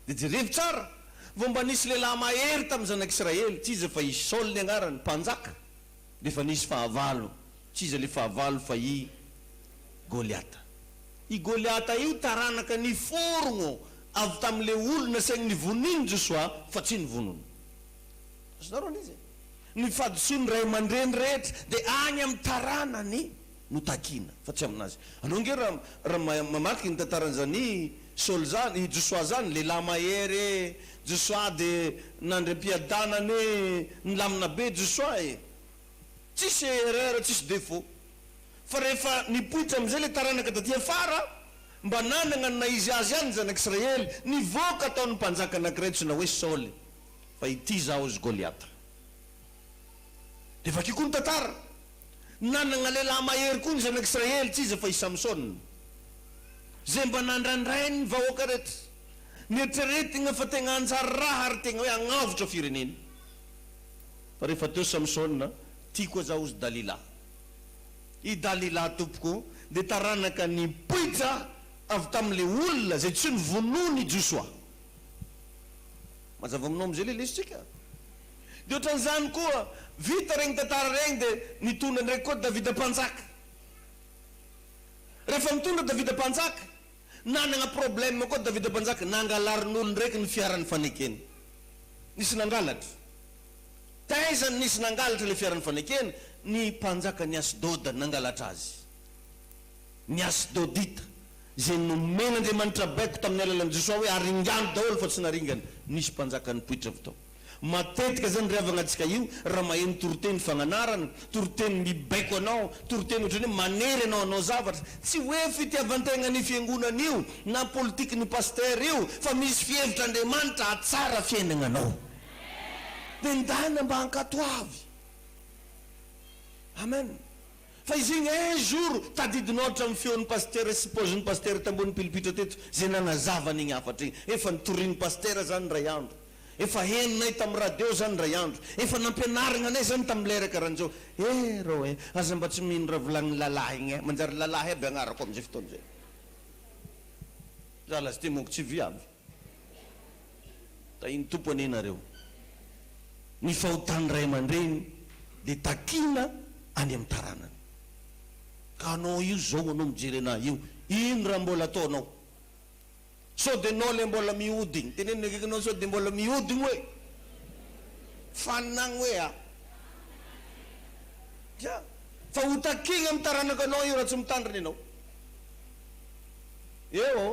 Dia jerevo tsara, vao mba nisy lehilahy mahery tamin'ny zanak'Israely, tsy iza fa i Saoly ny agnarany, mpanjaka. D'efa nisy fahavalo, tsy iza le fahavalo fa i Goliata. I Goliata io taranaka niforogno avy tamle olona saigny nivonin Josoa fa tsy nivonon. Azonareo andiza e. Ny fahadisoan ray amandreny rehetra de agny am taranany. no takiana fa tsy aminazy. Anao ange raha raha mamaky iny tantaran zany Saoly zany i Josoa zany lehilahy mahery e Josoa de nandry ampiadanana e nilamina be Josoa e tsisy erreur tsisy défaut fa rehefa nipoitra amizay le taranaka taty afara mba nanagna ny naha izy azy any ny zanak'israely nivoaka tao ny mpanjaka anakiray tsona hoe Saoly fa ity zaho ozy Goliata Dia vakio koa ny tantara. Nanana lehilahy mahery koa ny zanak'Israely, tsy iza fa i Samsona. Izay mba nandrandrainy ny vahoaka rehetra. Nieritreretina fa tegna hanjary raha ary tegna hoe hagnavotra firenena. Fa rehefa teo Samsona, tiako aza hozy Dalila. I Dalila tompoko dia taranaka nipoitra avy tamin'ilay olona izay tsy novonoin'i Josoa. Mazava aminao amin'izay ilay lesintsika? Dia ohatran'izany koa, vita regny tantara regny dia nitondra ndraiky koa Davida mpanjaka. Rehefa nitondra Davida mpanjaka, nanagna problème koa Davida mpanjaka, nangalarin'olo ndraiky ny fiaran'ny fanekena. Nisy nangalatra. Taiza no nisy nangalatra le fiaran'ny fanekena? Ny mpanjakan'i Asdoda nangalatra azy. Ny Asdodita, izay nomen'Andriamanitra baiko tamin'ny alalan'i Josoa hoe aringano daholo fa tsy naringany, nisy mpanjaka nipoitra avy tao. Matetika zany ry havagna antsika io raha maheno toriteny fagnanarana, toriteny mibaiko anao, toriteny otrany hoe manery anao hanao zavatra, tsy hoe fitiavantegnan'io fiangonana io na politikin'io pasteur io fa misy fihevitr'Andriamanitra hahatsara fiainagnanao. Dia ndana mba hankatoavy. Amen. Fa izegny un jour tadidinao hatramin'ny feon'ny pasitera sy paozin'ny pasitera tamboho nipilipitra teto zay nanazava an'igny hafatra igny. Efa nitorin'ny pasitera zany ndray andro. Efa henonay tamin'ny radio zany ndray andro. Efa nampianarigna anay zany tamin'ny lera karaha an'izao. Eh rô eh! Aza mba tsy mino raha volagnin'ny lalahy igny eh! Manjary lalahy aby agnarako amin'izay fotoana izay. Za lasty monko tsy viavy. Tahin'ny Tompo anie nareo. Ny fahotan'ny ray aman-dreny dia takiana any amin'ny taranany. Ka anao io zao anao mijery anah io, ino raha mbola ataonao? Sao dia anao ilay mbola mihodigny? Teneno ny akaikinao sao dia mbola mihodigny hoe, faninagny hoe a! Dra! Fa ho takiagna amin'ny taranakanao io raha tsy mitandrina ianao. Eo ô!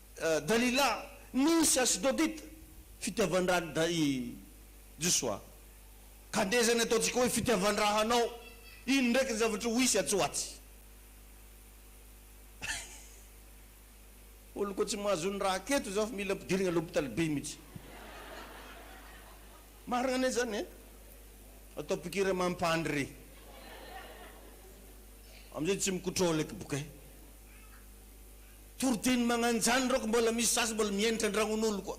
Dalila, nisy Asdodita, fitiavan-dran dry Josoa, ka dia izay ny ataontsika hoe fitiavan-dra hanao, iny ndraiky ny zavatra ho isy atsy ho atsy. Olo ko tsy mahazo ny raha keto zao fa mila ampidirigna l'hôpital be mitsy. Marigna anie zany e! Atao piqure mampandry re. Amizay tsy mi-contrôle eky boka e! Toriteny magnanjany ireo ko mbola misy sasany mbola mienitra andragnon'olo koa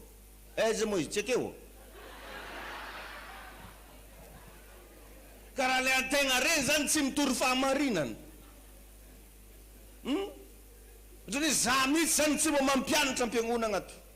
eh zay moa izy tsy ekeo ô! Ka raha le antegna rey zany tsy mitory fahamarinana hum! Otrany hoe za mitsy zany tsy mba mampianatra ampiangonagna ato.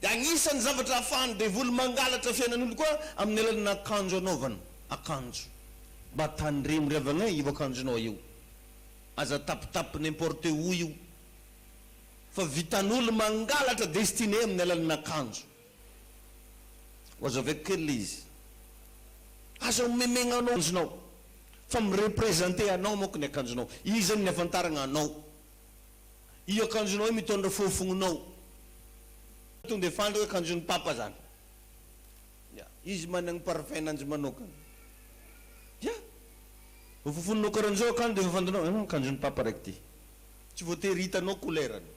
dia anisan'ny zavatra ahafahan'ny devoly mangalatra fiainan'olo koa amin'ny alalan'ny akanjo anaovany, akanjo. Mba tandremo ry havana eh io akanjonao io, aza tapitapy n'importe où io fa vitan'olo mangalatra destiné amin'ny alalan'ny akanjo. Oazo avec kely le izy, aza omemegna anao akanjonao fa mi-representer anao manko ny akanjonao, io zany ny ahafantaragna anao. Io akanjonao io mitondra fofognonao. Tonga dia fantatra hoe akanjon'i Papa izany. Ya. Izy managny parfum-nanjy manokana. Ya. Vao fofoninao karan'izao akanjo dia efa fantanao, ah, akanjon'i Papa raiky ity. Tsy voatery hitanao couleur-ny.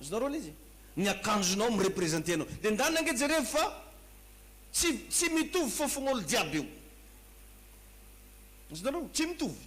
Azonareo ilay izy? Ny akanjonao mi-representer anao. Dia ndana ange jerevo fa tsy, tsy mitovy fofogn'olo jiaby io. Azonareo? Tsy mitovy.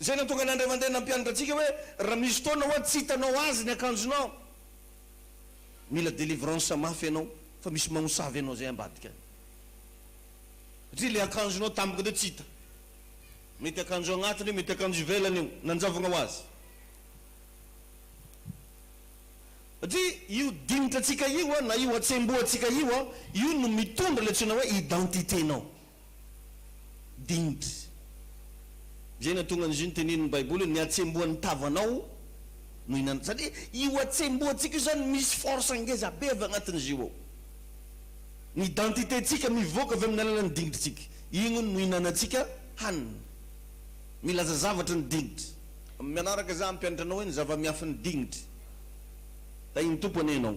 Izay nahatonga an'i Andriamandeha nampianatra antsika hoe raha misy fotoana hoa tsy hitanao azy ny akanjonao, mila delivrance mafy ianao fa misy magnosavy anao zay ambadika any. Satria le akanjonao tampoka teo tsy hita. Mety akanjo agnatiny io, mety akanjo ivelany io, nanjavogna ho azy. Satria io dinitra antsika io, na io hatsembohantsika io, io no mitondra le antsoina hoe identité-nao. Dind. Izay nahatonga an'izy io notenenin'ny Baiboly hoe ny hatsembohan'ny tavanao no hinan-. Satria io hatsembohantsika io izany misy force ngeza be avy agnatin'izy io ao. Ny identité-ntsika mivoaka avy amin'ny alalan'ny dingin-tsika. Igny hono no hihinanantsika hanina. Milaza zavatra ny dingin-. Manaraka za hampianatra anao hoe ny zava-miafin'ny dingin-. Tahin'ny Tompo anie ianao.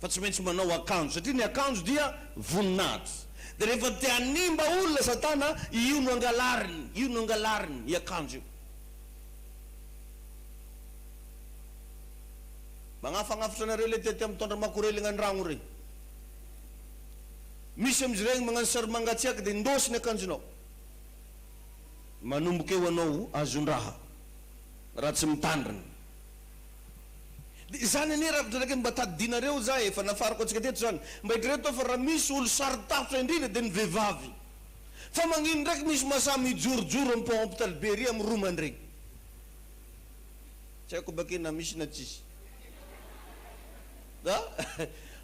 fa tsy maintsy manao akanjo satria ny akanjo dia voninahitra dia rehefa te hanimba olona satana io no angalariny io no angalariny i akanjo io magnafagnafotra anareo le tety am tondra makorelina an ragno rey misy am izy regny magnano sary mangatsiaka de indôsy ny akanjonao manomboka eo anao azon draha raha tsy mitandrina Dia izany anie raha mitraka mba tadidinareo za efa nafarako antsika teto zany mba hitrreto aho fa raha misy olo sarotarotra indrindra dia ny vevavy fa magnino ndraiky misy masaha mijorojoro am pont hopital be ery am roa mandregny tsy haiko bake na misy na tsisy a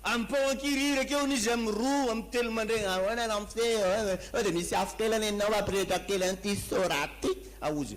am pont ankirihiry akeo anie izy am roa am telo mandregny ahoana no am feo eo dia misy afo kely anie nao apirehitra kely anty sorate aozy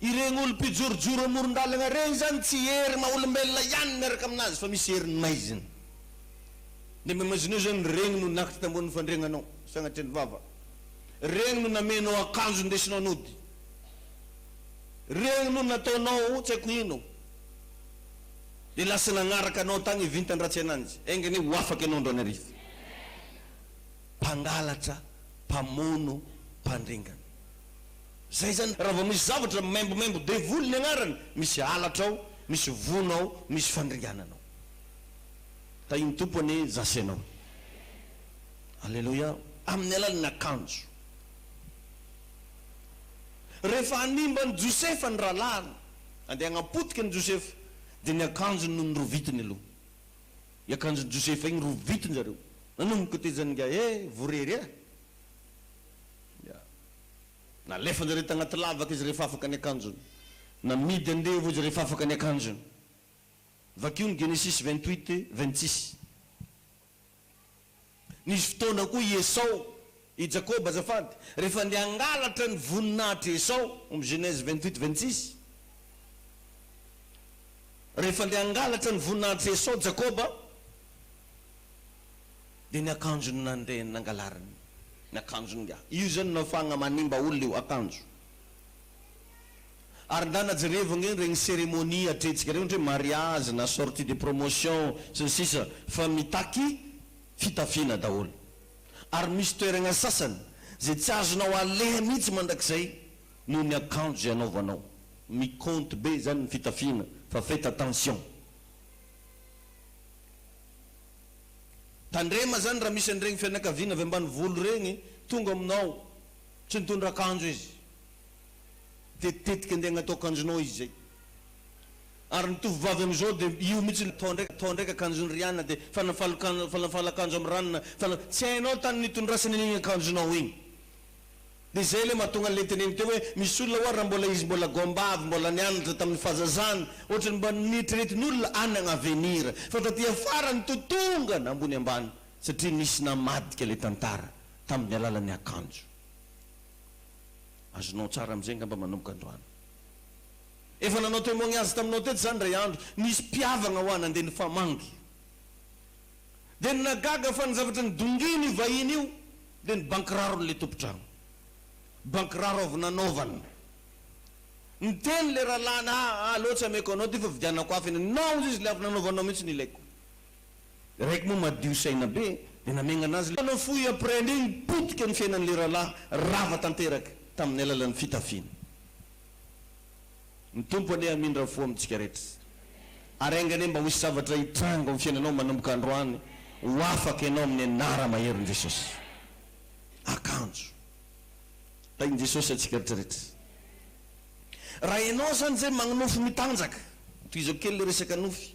Ireny olom-pijorojoro amoron-dalana ireny izany tsy hery maha olombelona ihany miaraka amin'azy fa misy heriny maizina. Ny amin'ny maizina eo izany ireny no nakitra tambonin'ny fandriagnanao sy agnatin'ny vava. Ireny no namenao akanjo indesinao nody. Ireny no nataonao tsy haiko ino. Dia lasa nagnaraka anao tagny vintan-dratsy ananjy. Enga anie ho afaka ianao androany hariva. Mpangalatra, mpamono, mpandringana. Zay zany raha vao misy zavatra maimbomaimbo devoly ny agnarany misy halatra ao misy vono ao misy fandringanana ao tahin'ny Tompo anie zasy anao aleloia amin'ny alalan'ny akanjo rehefa hanimba an'i Josefa ny rahalahiny andeha hagnapotika an'i Josefa dia ny akanjony no norovitiny aloha i akanjon'i Josefa igny rovitiny zareo nanomboka tezany ingahy eh vorery eh Nalefan'ireto tagnaty lavaka izy rehefa afaka ny akanjony. Namidy andevo izy rehefa afaka ny akanjony. Vakio ny Genesisy vingt huit vingt six. Nisy fotoana koa i Esao, i Jakoba azafady, rehefa andeha hangalatra ny voninahitr'i Esao, omy Genèse vingt huit vingt six. Rehefa andeha hangalatra ny voninahitr'i Esao Jakoba. Dia ny akanjony nandreny nangalariny ny akanjony nga io zany no afahagna manimba olona io akanjo ary ndana jerevo ange regny ceremonie atreitsika regny ohatra hoe mariage na sortie de promotion sy ny sisa fa mitaky fitafiana daholo ary misy toeragna sasany zay tsy azonao aleha mihitsy mandrakizay noho ny akanjo zay anaovanao mi compte be zany ny fitafiana fa fait attention. Tandrema zany raha misy an'iregny fianakaviana avy ambanivolo regny tonga aminao, tsy nitondra akanjo izy, tetitetika andeha agnatao akanjonao izy zay. Ary ny tovovavy amizao dia io mihitsy ny atao ndraiky, atao ndraiky akanjon'i Riana dia fanafalo-kanjo, fanafalo-akanjo amin'i Ranona, fanafalo, tsy hainao tany nitondrasany an'igny akanjonao igny. Dia izay ilay mahatonga an'ilay teneniko teo hoe misy olona ho'a raha mbola izy mbola goambavy mbola nianatra tamin'ny fahazazany ohatra ny mba nieritreretin'olona any agn avenir fa taty afara ny to tonga na ambony ambany satria nisy namadika ilay tantara tamin'ny alalan'ny akanjo azonao tsara amin'izay angamba manomboka androany. Efa nanao temoignazy taminao teto za indray andro nisy mpihavagna ho'a nandeha nifamangy. dia ny nahagaga fa ny zavatra nidongin io vahiny io dia ny bankiraro n'ilay tompon-trano. Bankiraro avy nanaovana. Niteny ilay rahalahiny ah ah aleo tsy ameko anao ity fa vidianako hafa eny naoza izy ilay avy nanaovanao mihitsy ny ilaiko. Ilay raiky moa madio saina be dia namengana azy ilay. Nafoy après an'iny potika ny fiainan'ilay rahalahy rava tanteraka tamin'ny alalan'ny fitafiana. Ny Tompo anie hamindra fo amintsika rehetra ary enga anie mba ho hisy zavatra hitranga ao am fiainanao manomboka androany ho afaka ianao amin'ny anara maherin'i Jesosy. Akanjo tahin'i Jesosy antsika rehetra rehetra. Raha ianao zany zay magnofy mitanjaka, tohizako kely le resaka nofy,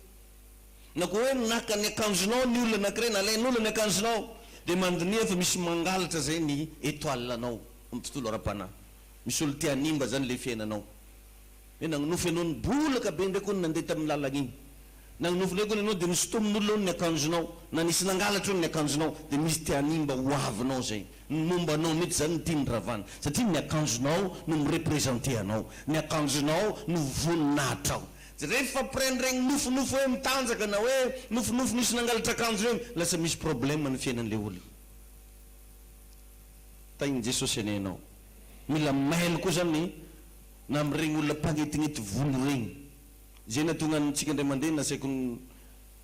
na koa hoe naka ny akanjonao ny olona anakiray, nalain'olona ny akanjonao, de mandiniha fa misy mangalatra zay ny etoile-nao amin'ny tontolo ara-panahy. Misy olo te hanimba zany le fiainanao hoe nagnonofy anao ny bolaka be ndray kony nandeha taminy lalagna igny nagnonofy ndray kony anao de nosotominy olona ao ny akanjonao na nisy nangalatra ao ny akanjonao de misy te hanimba ho avinao zay ny momba anao mitsy zany ny tiany ravana satria ny akanjonao no mi representer anao ny akanjonao no voninahitrao de rehefa après ny regny nofinofy hoe mitanjaka na hoe nofinofy nisy nangalatra akanjo regny lasa misy problème ny fiainanle olona tahin'i Jesosy anie ianao. Mila mailo koa zany na amin'ireny olona mpagnetinety volo ireny. Izay nahatonga antsika indray mandeha nasaiko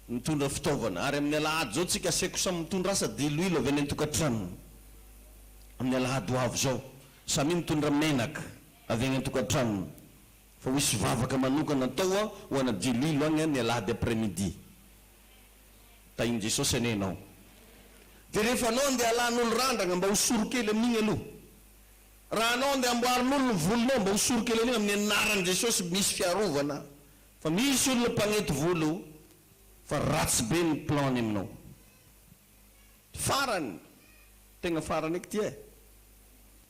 nitondra fitaovana. Ary amin'ny alahady izao tsika asaiko samy mitondra asa diloilo avy any an-tokantranony. Amin'ny alahady ho avy izao. Samia mitondra menaka avy any an-tokantranony. Fa ho hisy vavaka manokana atao ho ana diloilo agny ny alahady après midi. Tahin'i Jesosy anie ianao. Dia rehefa anao andeha alan'olo randragna mba ho soro kely amin'igny aloha. Raha anao andeha amboarin'olo ny volonao mba ho soro kely an'igny amin'ny anaran'i Jesosy misy fiarovana fa misy olona mpagnety volo fa ratsy be ny plan-ny aminao. Farany, tegna farany eky ty eh.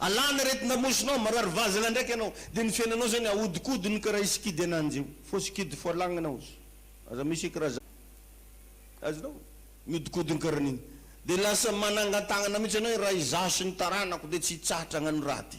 Alana ireto namosinao, marary vazana ndraiky ianao, dia ny fiainanao izany ahodikodiny karaha i sikidy ananjy io, fo sikidy fo alagnana ozy, aza misy karaha izany, azonao? miodikodiny karaha an'iny, dia lasa manangan-tagnana mihitsy ianao hoe raha izaho sy ny taranako dia tsy hitsahatra hagnano raty.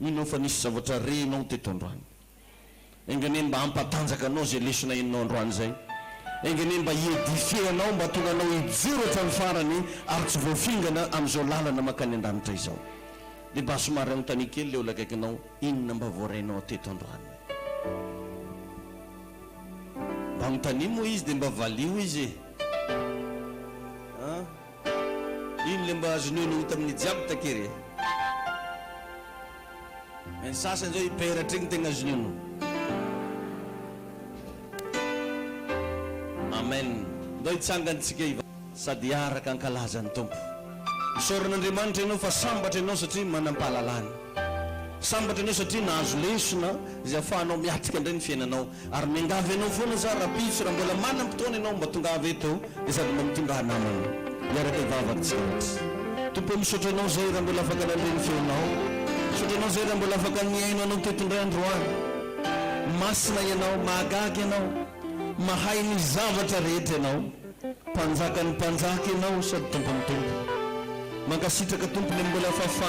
Mino aho fa nisy zavatra renao teto androany. Enga anie mba hampatanjaka anao izay lesona henonao androany izay. Enga anie mba hi-edifier anao, mba hahatonga anao hijoro hatramin'ny farany ary tsy voafingana amin'izao lalana mankany an-danitra izao. Dia mba somary anontania kely ilay olona akaikinao, inona mba voarainao teto androany? Mba anontania moa izy dia mba valio izy e! An? Ino le mba azon'io no ho hita amin'ny jiaby takery e? Ny sasany zao hiperatra igny tegna azon'io no. Amen! Ndao hitsangany tsika hiva. Sady hiaraka hankalaza ny Tompo. Isaoran'Andriamanitra ianao fa sambatra ianao satria manam-pahalalana. Sambatra ianao satria nahazo lesona izay afahanao miatrika indray ny fiainanao. Ary miangavy anao foana za rapiso raha mbola manam potoana ianao mba tongava eto de sady mba mitondra namana hiaraka hivavaka tsy lavitra Tompo o misaotra anao zay raha mbola afaka nandre ny feonao misaotra anao zay raha mbola afaka nihaino anao teto indray androany Masina ianao mahagaga ianao mahay ny zavatra rehetra ianao mpanjakan'ny mpanjaka ianao sady tompon'ny tompo Mankasitraka Tompo le mbola fahafahanao